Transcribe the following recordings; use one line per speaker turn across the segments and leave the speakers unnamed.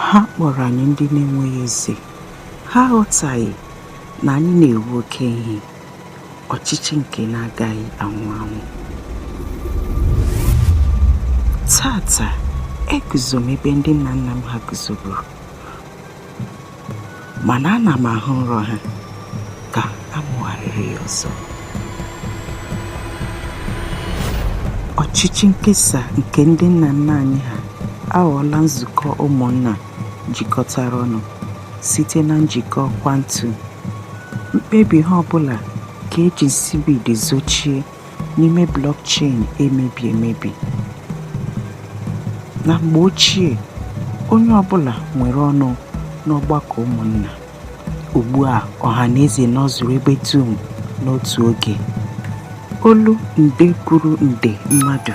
ha kpọrọ anyị ndị na-enweghị eze ha aghọtaghị na anyị na-ewu oke ihe ọchịchị nke na-agaghị anwụ anwụ taata eguzo m ebe ndị nna nna m ha guzoburu mana ana m ahụ nrọ ha ka amụgharịrị ya ọzọ ọchịchị nkesa nke ndị nna nna anyị ha aghọọla nzukọ ụmụnna jikọtara ọnụ site na njikọ kwantum mkpebi ha ọbụla ka eji nsibidi zochie n'ime blockchain emebi emebi. Na mgbe ochie, onye ọbụla nwere ọnụ n'ọgbakọ ụmụnna. Ugbu a, ọha na eze nọzuru ebe dum n'otu oge. Olu nde kwuru nde mmadụ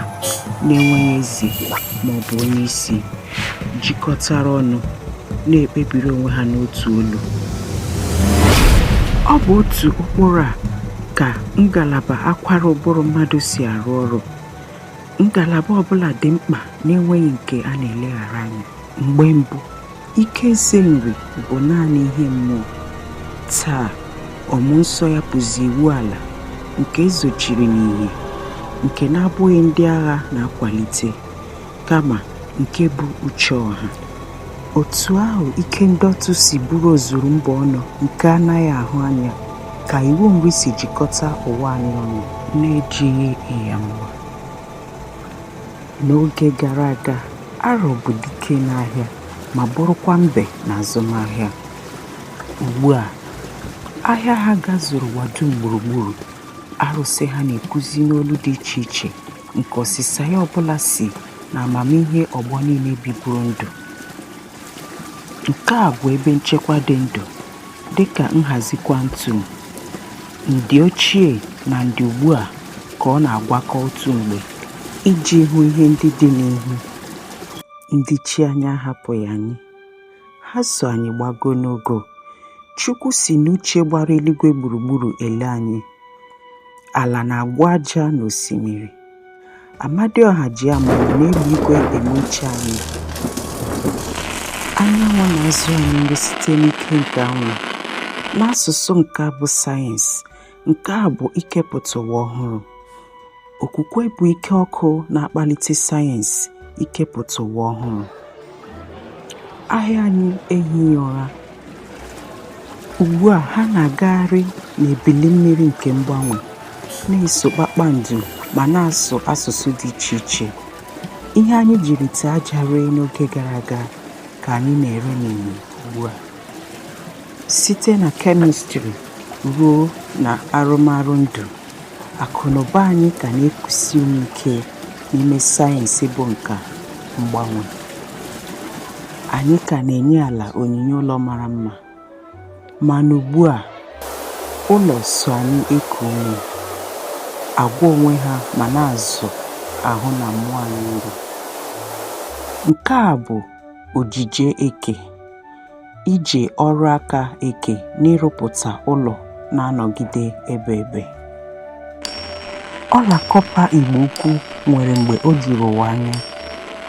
na-enweghị eze ma ọ bụ onye isi jikọtara ọnụ na-ekpebiri onwe ha n'otu olu. Ọ bụ otu ụkpụrụ a ka ngalaba akwara ụbụrụ mmadụ si arụ ọrụ ngalaba ọbụla dị mkpa na-enweghị nke a na-eleghara anya mgbe mbụ ike eze nri bụ naanị ihe mmụọ taa ọmụ nsọ ya bụzi iwu ala nke ezochiri n'ihe nke na-abụghị ndị agha na-akwalite kama nke bụ uche ọha otu ahụ ike ndọtụ si bụrụ ozuru mba ọnụ nke anaghị ahụ anya ka iwu nri si jikọta ụwa anyị ọnụ na-ejighị ihe mma n'oge gara aga arọ bụ dike n'ahịa ma bụrụkwa mbe na azụmahịa ugbu a ahịa ha gazuru ụwa dum gburugburu arụsị ha na-ekwuzi n'olu dị iche iche nke ọsịsa ya ọbụla si na amamihe ọgbọ niile biburu ndụ nke a bụ ebe nchekwa dị ndụ dịka nhazi kwantum ndị ochie na ndị ugbu a ka ọ na-agwakọ otu mgbe iji hụ ihe ndị dị n'ihu ndị chi anyị ahapụghị anyị ha so anyị gbago n'ogo chukwu si n'uche gbara eluigwe gburugburu ele anyị ala na-agwọ aja na osimiri amadioha ji amara n'elu igwe eme uche anyị anyanwụ na-azụ anyị nri site n'ike nke anwụ n'asụsụ nke bụ sayensị nke a bụ ikepụta ụwa ọhụrụ okwukwe bụ ike ọkụ na-akpalite sayensị ikepụta ụwa ọhụrụ ahịa anyị ehighị ụra ugbu a ha na-agagharị n'ebili mmiri nke mgbanwe na-eso kpakpando ma na-asụ asụsụ dị iche iche ihe anyị jiri ite aja ree n'oge gara aga ka anyị na-ere n'ìhè ugbu a Site na kemistri ruo na arụmarụ ndụ, akụnụba anyị ka na-ekusi ume ike n'ime sayensị bụ nka mgbanwe. Anyị ka na-enye ala onyinye ụlọ mara mma, mana ugbu a, ụlọ so anyị eku ume, agwọ onwe ha ma na-azụ ahụ na mmụọ anyị nri. Nke a bụ ojije eke. ije ọrụ aka eke n'ịrụpụta ụlọ na-anọgide ebe ebe ọla kọpa igbo ukwu nwere mgbe o juru ụwa anya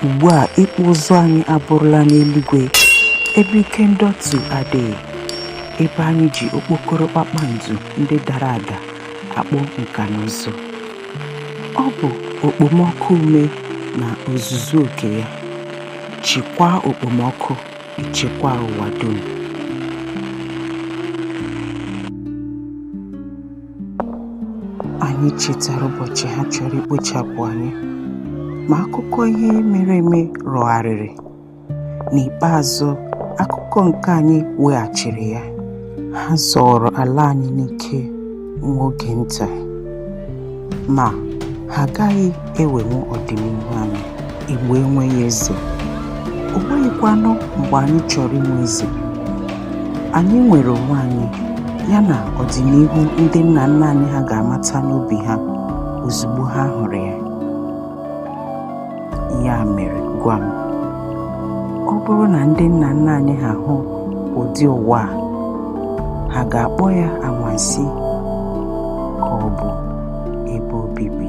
ugbu a ịkpụ ụzụ anyị abụrụla n'eluigwe ebe ike ndọtụ adịghị ebe anyị ji okpokoro kpakpando ndị dara ada akpụ nka na ụzụ ọ bụ okpomọkụ ume na ozuzu oke ya chịkwaa okpomọkụ ichekwa ụwa dum. Anyị chetara ụbọchị ha chọrọ ikpochapụ anyị, ma akụkọ ihe mere eme rọgharịrị. N'ikpeazụ, akụkọ nke anyị weghachiri ya. Ha zọọrọ ala anyị n'ike. nwa oge nta ma ha agaghị ewenwu ọdịnihu anyị igbo enweghị eze o nweghịkwanụ mgbe anyị chọrọ inwe eze anyị nwere onwe anyị ya na ọdịnihu ndị nna nna anyị ha ga-amata n'obi ha ozugbo ha hụrụ ya ya mere gwa m ọ bụrụ na ndị nna nna anyị ha hụ ụdị ụwa a ha ga-akpọ ya anwansi ka ọ bụ ebe obibi